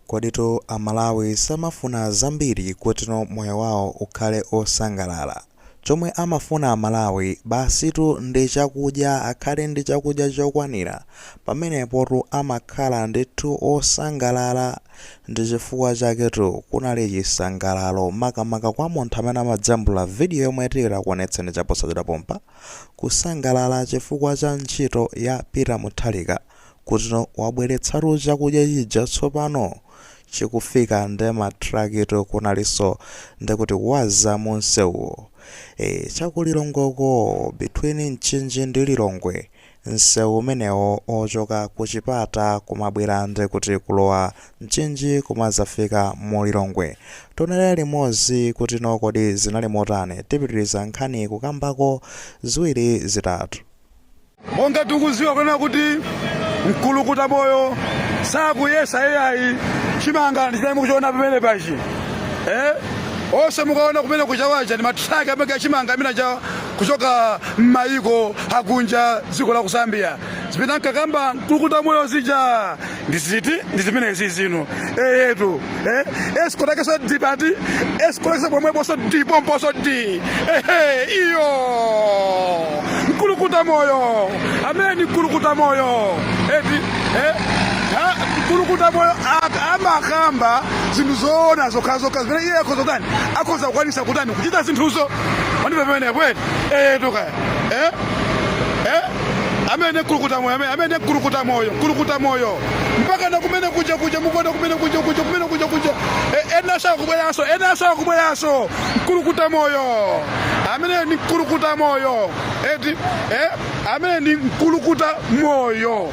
Koditu a Malawi samafuna zambiri kuti moyo wawo ukhale osangalala. Chomwe amafuna a Malawi basitu ndi chakudya akhale ndi chakudya chokwanira pamenepotu amakhala ndithu osangalala. Ndi chifukwa chaketu kunali chisangalalo makamaka kwa munthu amene amajambula video yomwe tikuonetseni chaposachedwa pompa. Kusangalala chifukwa cha ntchito ya Peter Mutharika. kuti wabweretsatu chakudya chija tsopano chikufika nde ma trakito kunalinso ndekuti waza munsewuwo ee cha ku Lilongweko between Mchinji ndi lilongwe nsewu umenewo ochoka kuchipata kumabwera ndekuti kulowa Mchinji kumazafika mu lilongwe tionere limozi kuti kodi zinali motani tipitiliza nkhaniyi kukambako ziwiri zitatu. monga tikuziwa kunena kuti mkulukuta moyo sakuyesa eyayi chimanga ndichimene mukuchiona pamene pachi eh? onse mukaona kumene kuchawaja ndi matraki amene achimanga amene aja kuchoka m'mayiko akunja dziko la ku Zambia zimene ankakamba mkulukuta moyo zija ndiye ndi zimenezi zino eyetu eh? escort yakeso ili pati escort yakeso pomweposo di pomposo di ehe iyo mkulukuta moyo amene mkulukuta moyo eti eh? Ha, mkulukuta moyo a- amakamba zinthu zoona zokhazokha zimene iye akhoza kutani akhoza kukwanisa kutani kuchita zinthuzo wandipa pamene kweli eyetu kaya eh? eh? amene kulukuta moyo amene amene kulukuta moyo kulukuta moyo mpaka na kumene kuja kuja mukwenda kumene kuja kuja kumene kuja kuja E- ena sawa kubweraso ena sawa kubweraso kulukuta moyo amene ni kulukuta moyo eti eh amene ni kulukuta moyo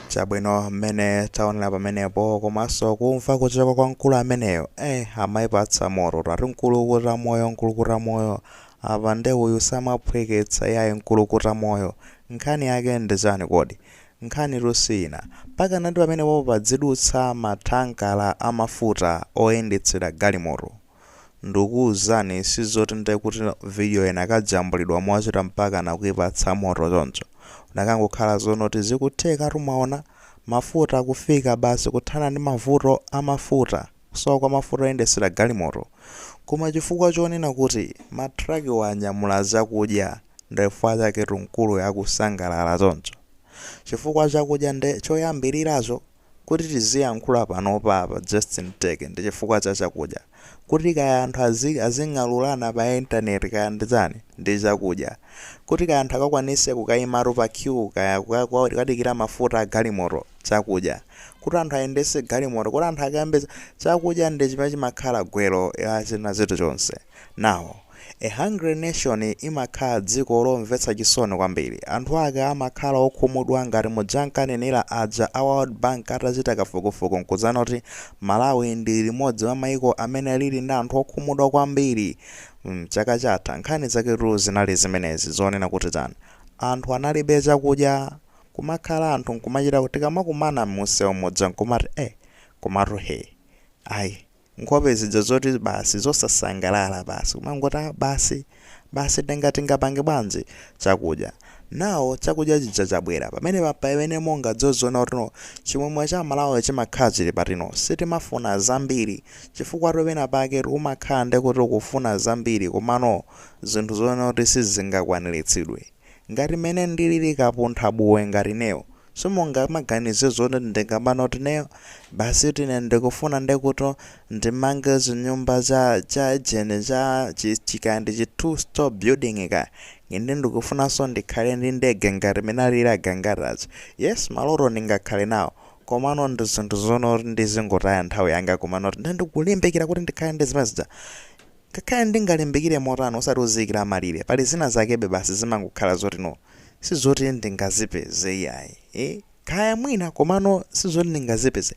Chabwino mmene taonera pamenepo komanso kumva kuchoka kwa mkulu ameneyo eh amaipatsa moto ati mkulukuta moyo mkulukuta moyo apa nde uyu samaphweketsa yayi mkulukuta moyo nkhani yake ndi chani kodi nkhani tusiyina mpaka nati pamenepopo padzidutsa mathankala a mafuta oyendetsera galimoto ndukuuzani sizoti nde kuti video inakajambulidwa mochita mpakana kuipatsa moto choncho. inakangokhala zonoti zikuthekatu mwaona. mafuta kufika basi kuthana ndi mavuto a mafuta. kusowa kwa mafuta oyendesera galimoto. koma chifukwa chonena kuti ma truckiwa anyamula zakudya ndifukwa chaketu mkuluyo akusangalala choncho. chifukwa chakudya nde choyambiliracho Kuti tiziyankhula panopa apa Justin Teke ndi chifukwa cha chakudya. Kuti kaya anthu azi azing'alulana pa internet kaya ndi tani, ndi chakudya. Kuti kaya anthu akakwanise kukayimatu pa queue kaya kukadikira mafuta a galimoto, chakudya. Kuti anthu ayendese galimoto, kuti anthu akambe, chakudya ndi chimene chimakhala gwero la china chilichonse. Now, a hungry nation imakhala dziko lomvetsa chisoni kwambiri. Anthu ake amakhala okhumudwa ngati muja ankanenera aja a World Bank atachita kafukufuku nkupezana kuti Malawi ndi limodzi mwa maiko amene lili ndi anthu okhumudwa kwambiri mm chaka chatha. Nkhani zaketu zinali zimenezi zonena kuti chani? Anthu analibe chakudya. Kumakhala anthu nkumachita tikamakumana mumsewu muja nkumati eh komatu hee ayi. nkhope zija zoti basi zosasangalala basi kumangoti ah basi basi nanga tingapange bwanji chakudya now chakudya chija chabwera pamenepa ndi pamene mungadzaone kuti no chimwemwe cha aMalawi chimakhala chili pati no sitimafuna zambiri chifukwatu pena pake umakhala ndi kuti ukufuna zambiri komano zinthu zoona kuti sizingakwaniritsidwe ngati mmene ndilili kapunthabuwe ngati ineyo Simungamaganize zoti ndingamanene kuti ineyo basitu ine ndikufuna ndekuti ndimange chinyumba cha cha ujeni cha chi chikaya ndi chi two storey building kaya ine ndikufunanso ndikhale ndi ndege ngati mene alili agangatazi yes maloto ndingakhale nawo komano ndi zinthu zoona kuti ndizingotaya nthawi yanga kumanena kuti nde ndikulimbikira kuti ndikhale ndi zimene zija Ngakhale ndingalimbikire motani osati uziikira malire pali zina zakebe basi zimangokhala zoti no sizoti ndingazipeze iyayi ee kaya mwina komano sizoti ndingazipeze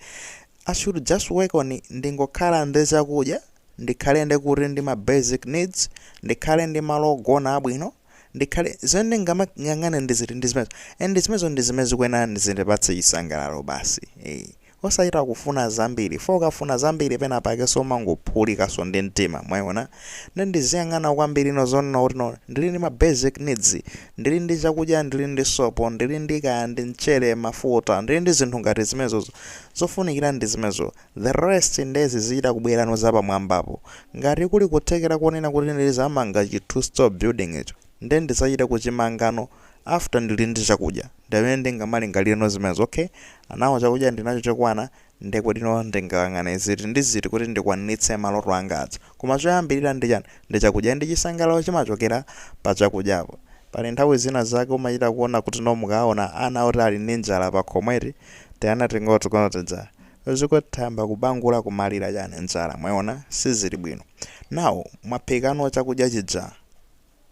I should just work on ndingokhala ndi chakudya ndikhale ndi kuti ndi ma basic needs ndikhale ndi malo ogona abwino ndikhale zimene ndingamayang'ane ndi ziti ndi zimenezo and zimenezo ndi zimene zikuyenera zindipatse chisangalalo basi ee. Osachita kufuna zambiri, chifukwa ukafuna zambiri penapakenso umangophulikanso ndi mtima, mwayiona? Nde ndiziyang'ana kwambirino zonena kuti no, ndili ndi ma basic needs, ndili ndi chakudya, ndili ndi sopo, ndili ndi kaya ndi mchere, mafuta, ndili ndi zinthu ngati zimenezozo, zofunikira ndi zimenezo, the rest nde zizichita kubwerano zapamwambapo. Ngati kuli kuthekera konena kuti ndizamanga chi 2 storey building icho, nde ndizachita kuchimangano After ndili ndi chakudya ndi pamene ndingamalingalireno zimenezo, okay now chakudya ndili nacho chokwana ndekuti no ndingayang'ane ziti ndi ziti kuti ndikwaniritse maloto anga aja. Koma choyambilira ndi chani? Ndi chakudya and chisangalalo chimachokera pa chakudyapo. Pali nthawi zina zake umachita kuona kuti no mukaona ana oti ali ndi njala pakhomo eti, tiana ting'onoting'ono tija ndekuti tayamba kubangula kumalira chani njala mwayiona sizili bwino. Now mwaphikano chakudya chija.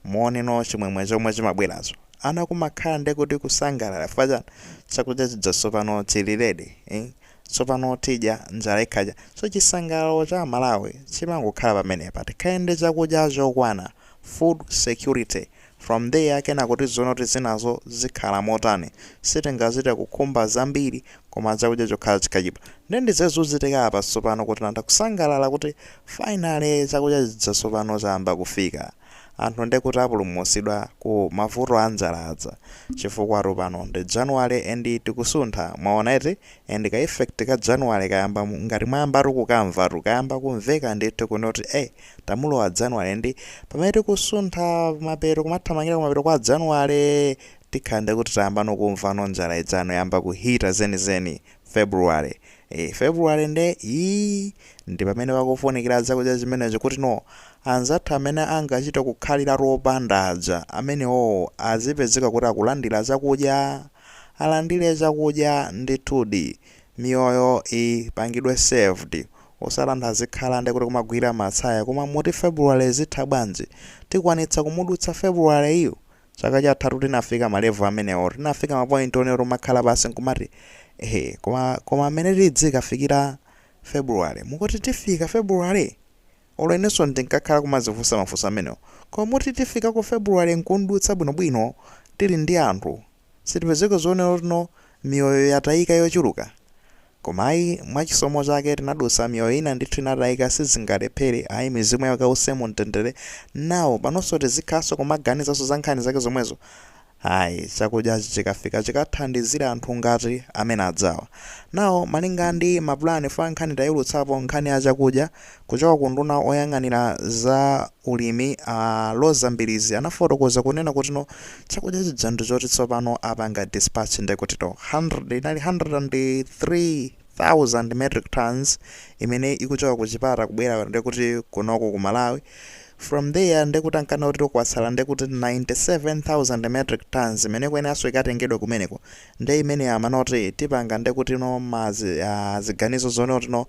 Muoneno chimwemwe chomwe chimabweracho ana kumakhala nde kuti kusangalala chifukwa chani chakudya chija tsopano chili ready ii tsopano tidya njala ikhala chani so chisangalalo cha amalawi chimangokhala pamenepa tikhale ndi chakudya chokwana food security from there kenako tiziona kuti zinazo zikhala motani sitingachite kukhumba zambiri koma chakudya chokhala chikachipa nde ndi zozuchitika apa tsopano kuti nanda kusangalala kuti finally chakudya chija sopano chayamba kufika anthu nde kuti apulumutsidwa ku mavuto anjala aja chifukwatu pano ndi January and tikusuntha mwaona eti and ka effect ka January kayamba ngati mwayambatu kukamvatu kayamba kumveka ndithu kuno kuti eh tamulowa January ndi pamene tikusuntha mapeto kumathamangira kumapeto kwa January Tikhala nde kuti tayambano kumvano njala ijano yayamba ku hitter zenizeni February ee February nde ii ndipamene pakufunikila chakudya chimenecho kutino anzathu amene angachite kukhaliratu opanda aja amenewowo azipezeka kuti akulandila chakudya alandile chakudya ndithudi miyoyo ipangidwe saved osatinso azikhala nde kuti kumagwila matsaya koma muti February zitha bwanji tikwanitsa kumudutsa February yu? Chaka chathatu tinafika ma level amenewo. Tinafika ma point onena tomakhala pansi nkumati eh koma koma amene tidzikafikira February. Mukuti tifika February? Olo inenso ndinkakhala kumadzifunsa mafunso amenewo. Koma muti tifika ku February nkumdutsa bwinobwino tili ndi anthu. Sitipezeka zionero zotino miyoyo yatayika yochuluka. Koma ayi mwa chisomo chake tinadutsa miyoyo ina ndithu inatayika sizingalephere ayi mizimu yawo ikause mu mtendere now panonso tizikhalanso kumaganizanso za nkhani zake zomwezo ayi chakudyachi chikafika chikathandizire anthu ngati amene ajawa now malinga ndi mapulani chifukwa nkhani tayulutsapo nkhani ya chakudya Kuchoka ku nduna oyang'anira za ulimi a Roza Mbilizi anafotokoza kunena kutino chakudya chija ndi choti tsopano apanga dispatch nde kutino 100 inali 103,000 metric tonnes imene ikuchoka ku Chipata kubwera nde kuti kunoko ku Malawi from there nde kuti ankanena kutino kwatsala nde kuti 97,000 metric tonnes imene ikuyeneranso ikatengedwe kumeneko nde imeneyo amanena zoti tipanga nde kutino ma zi, ah, ziganizo zonena kutino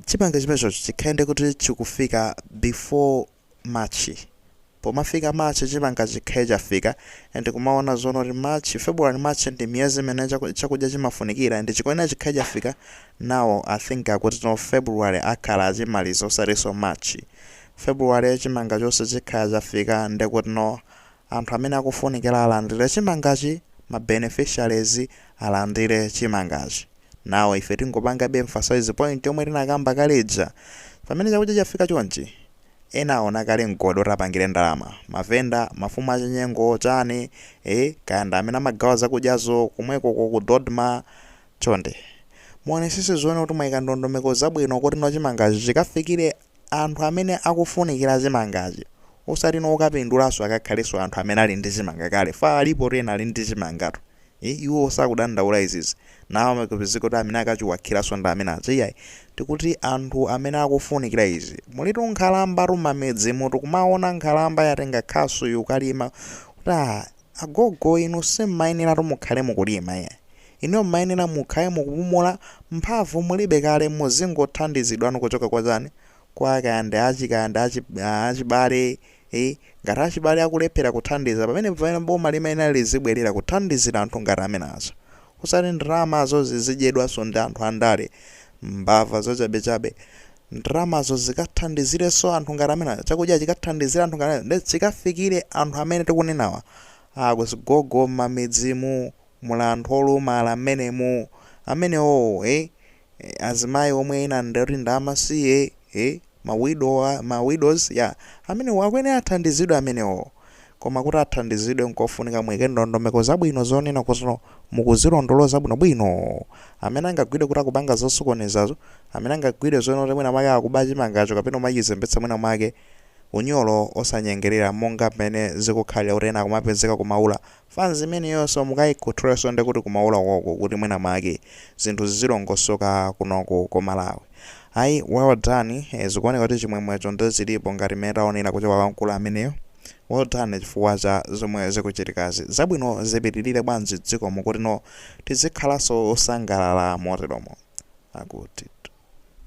Chimanga chimenechocho chikhale nde kuti chikufika before March, pomafika March chimanga chikhale chafika and kumaona zonena kuti March, February, March ndi miyezi imene chakudya chimafunikira and chikuyenera chikhale chafika now I think akutino February akhala achimaliza osatinso March, February chimanga chonse chikhala chafika nde kutino Anthu amene akufunikila alandile chimangachi ma beneficiaries alandile chimangachi now ife tingopangabe emphasize point yomwe tinakamba kale ija pamene chakudya chafika chonchi ena aona kale mgodi woti apangile ndalama ma vendor mafumu achinyengo chani ee kaya ndi amene amagawa zakudyazo komwekoko ku Dodma chonde muonetsetse zonena kuti mwaika ndondomeko zabwino kutino chimangachi chikafikile anthu amene akufunikila chimangachi osati okapindulanso akakhalenso anthu amene ali ndi chimanga kale paja alipotu ena ali ndi chimangatu ee iwowo sakudandaula izizi ndiye kumakapezeka kuti amene akachiwakhilanso ndi amene achi iyayi tikuti anthu amene akufunikila izi mulitu nkhalambatu mamidzimutu kumaona nkhalamba yatenga khasu yukalima kuti aah Agogo inu simmayeneratu mukhale mukulima iyayi. Inuyo mmayenera mukhale mukupumula, mphamvu mulibe kale muzingothandizidwa inu kuchoka kwa chani, kwa kaya ndi achi kaya ndi achi, achibale ii, ngati achibale akulephera kuthandiza pamenepo mpamene boma limayenera lizibwelera kuthandizira anthu ngati amenewa. Osati ndalamazo zizidyedwanso ndi anthu andale Mbava zochabechabe. Ndalamazo zikathandizirenso anthu ngati amenewa. Chakudya chikathandizire anthu ngati amenewa. Ndiye chikafikire anthu amene tikunenawa. A zigogo m'mamidzimu, muli anthu olumala m'menemu. Amenewowo, eh? Azimayi omwe ena ndi oti ndi amasiye, eh? Ma widow, ma widows, yeah. Amenewo akuyenera athandizidwe amenewo. Koma kuti athandizidwe nkofunika muike ndondomeko zabwino zonena kuti mukuzilondoloza bwinobwino. Amene angagwidwe kuti akupanga zosokonezazo, amene angagwidwe zonena kuti mwina mwake akuba chimangacho kapena kumachizembetsa mwina mwake, unyolo osanyengerera monga mmene zikukhalira kuti ena akumapezeka ku Maula Fans imeneyonso mukayikhuthulenso ndekuti ku Maula konko kuti mwina mwake zinthu zizilongosoka kunoko ku Malawi ayi well done zikuoneka kuti chimwemwecho nde chilipo ngati mmene taonera kuchoka kwa mkulu ameneyo well done chifukwa cha zomwe zikuchitikazi zabwino zipitilire m'dziko mo kuti tizikhalanso osangalala moteremo akutitu.